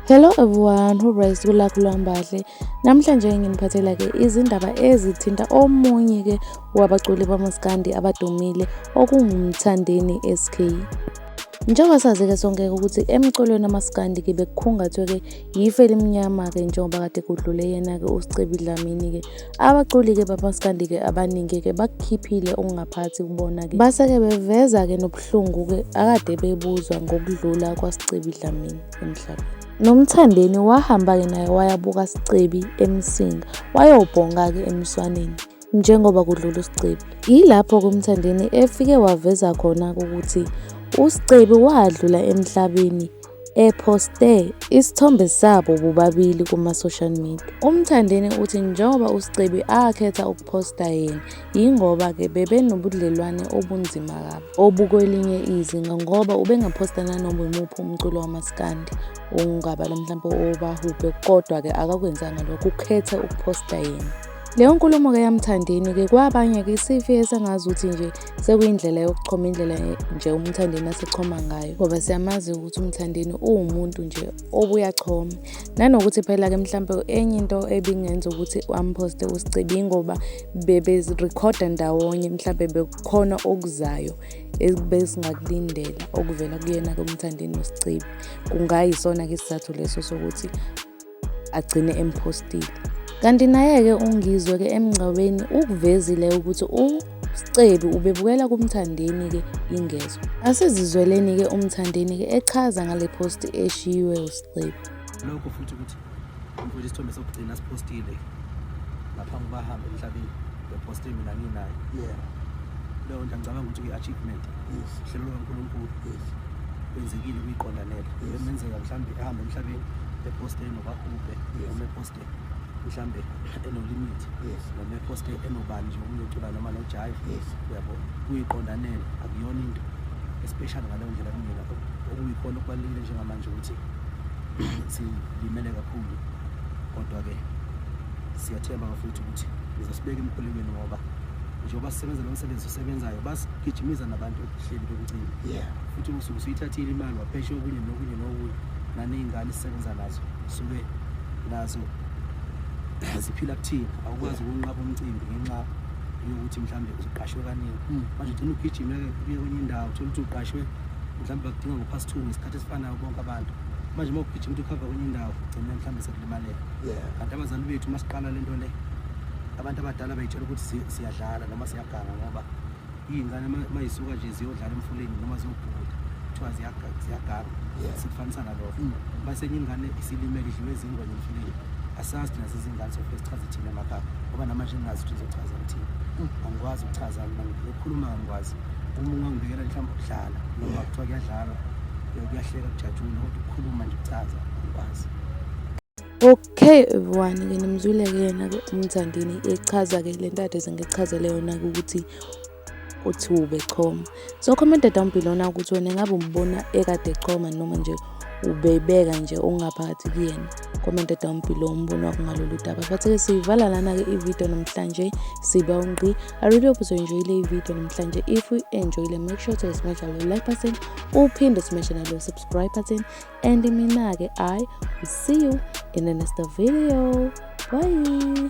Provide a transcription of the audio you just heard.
Hello everyone, hope guys kulakho lwambahle. Namhlanje nginiphathela ke izindaba ezithinta omunye ke wabaculi bamaskandi abadumile okungumthandeni SK. Njengoba sazi-ke sonke ukuthi emculweni amaskandi-ke bekukhungathwe-ke yifu elimnyama-ke njengoba kade kudlule yena-ke usicebi dlamini-ke abaculi-ke bamaskandi-ke abaningi-ke bakukhiphile okungaphathi kubona-ke base-ke beveza-ke nobuhlungu-ke akade bebuzwa ngokudlula kwasicebi dlamini emhlabeni nomthandeni wahamba-ke naye wayabuka sicebi emsinga wayobhonga-ke emswaneni njengoba kudlula uSicebi. Yilapho ke uMthandeni efike waveza khona ukuthi uSicebi wadlula emhlabeni ephoste isithombe sabo bobabili kuma-social media. UMthandeni uthi njengoba uSicebi akhetha ukuphosta yena, yingoba-ke bebenobudlelwane obunzima kabi obukwelinye izinga ngoba ubengaphosta nanoma imuphi umculo wamaskandi ongabala mhlawumpe owobahubhe kodwa-ke akakwenzanga lokho, ukhethe ukuphosta yena. Leyo nkulumo ke yaMthandeni ke kwabanye ke isifi esengazi ukuthi nje sekuyindlela yokuchoma indlela nje uMthandeni asechoma ngayo ngoba siyamazi ukuthi uMthandeni uwumuntu nje obuyachoma nanokuthi phela ke mhlampe enye into ebingenza ukuthi amposte uSicebi ngoba bebezirecorda ndawonye mhlampe bekukhona okuzayo ebesingakulindela okuvela kuyena ke uMthandeni noSicebi kungayisona ke isizathu leso sokuthi agcine emphostile. Kanti naye-ke uNgizwe-ke emngcwabeni ukuvezile ukuthi uScebi ubebukela kuMthandeni-ke ingezwa. Asizizweleni-ke uMthandeni-ke echaza ngale phosti eshiywe uScebi. Lokho futhi ukuthi mfowethu isithombe sokugcina siphostile. ngaphambi uba hambe emhlabeni bephoste mina nginaye leyo nto angicabanga ukuthi kuyi-achievement uhlelo lukankulunkulu kwenzekile kuyiqondanela emenzeka mhlawumbe ehambe emhlabeni eposte enobahubhe noma eposte mhlawumbe enolimit noma eposte enobani nje omunye ucula noma nojayi uyabo kuyiqondanela akuyona into especially ngaleyo ndlela kumina okuyikhona okubalulekile njengamanje ukuthi silimele kakhulu kodwa-ke siyathemba bafowethu ukuthi ngizosibeka emkhulekweni ngoba njengoba sisebenza lo msebenzi osebenzayo basigijimiza nabantu ekuhleli kwemcimbi futhi usuke usuyithathile imali wapheshe okunye nokunye nokunye naney'ngane sisebenza nazo suke nazo ziphila kuthina awukwazi ukunqaba umcimbi ngenxa yokuthi mhlawumbe uqashwe kaningi hmm. manje ugcina ugijime-ke kuye kwenye indawo thole ukuthi uqashwe mhlawumbe bakudinga ngo-past two ngesikhathi esifanayo bonke abantu manje uma ugijima ukuthi ukhava kwenye indawo ugcine mhlawumbe sekulimalela kanti abazali bethu uma siqala le nto le abantu abadala bayitshela ukuthi siyadlala noma siyaganga ngoba iy'ngane uma yisuka nje ziyodlala emfuleni noma ziyobhuda kuthiwa ziyaganga sikufanisa nalokho mm. uma senye ingane isilimele idliwe ezingwa emfuleni asazi thina zizingane sofike sichaze thina emakhaya ngoba namanje ngingazi ukuthi ngizochaza ngithini mm. angikwazi ukuchaza khuluma ngikwazi uma ungangibekela mhlawumbe ukudlala noma kuthiwa kuyadlalwa kuyahleka kujatshulwa kodwa ukukhuluma nje kucaza ngikwazi Okay everyone ke nimzwile ke yena ke umthandini echaza ke le ntate sengichazele yona ukuthi uthi ube choma so commented down below na ukuthi wena ngabe umbona ekade choma noma nje ubeyibeka nje ungaphakathi kuyena comment down below umbono wakho ngalolu daba but-ke siyivala lana-ke ividiyo namhlanje siba ungqi I really hope uzoyinjoyile ivideo namhlanje if uyi-enjoyile make sure to smasha lo like button uphinde usmashe nalo subscribe button and mina-ke i will see you in the next video bye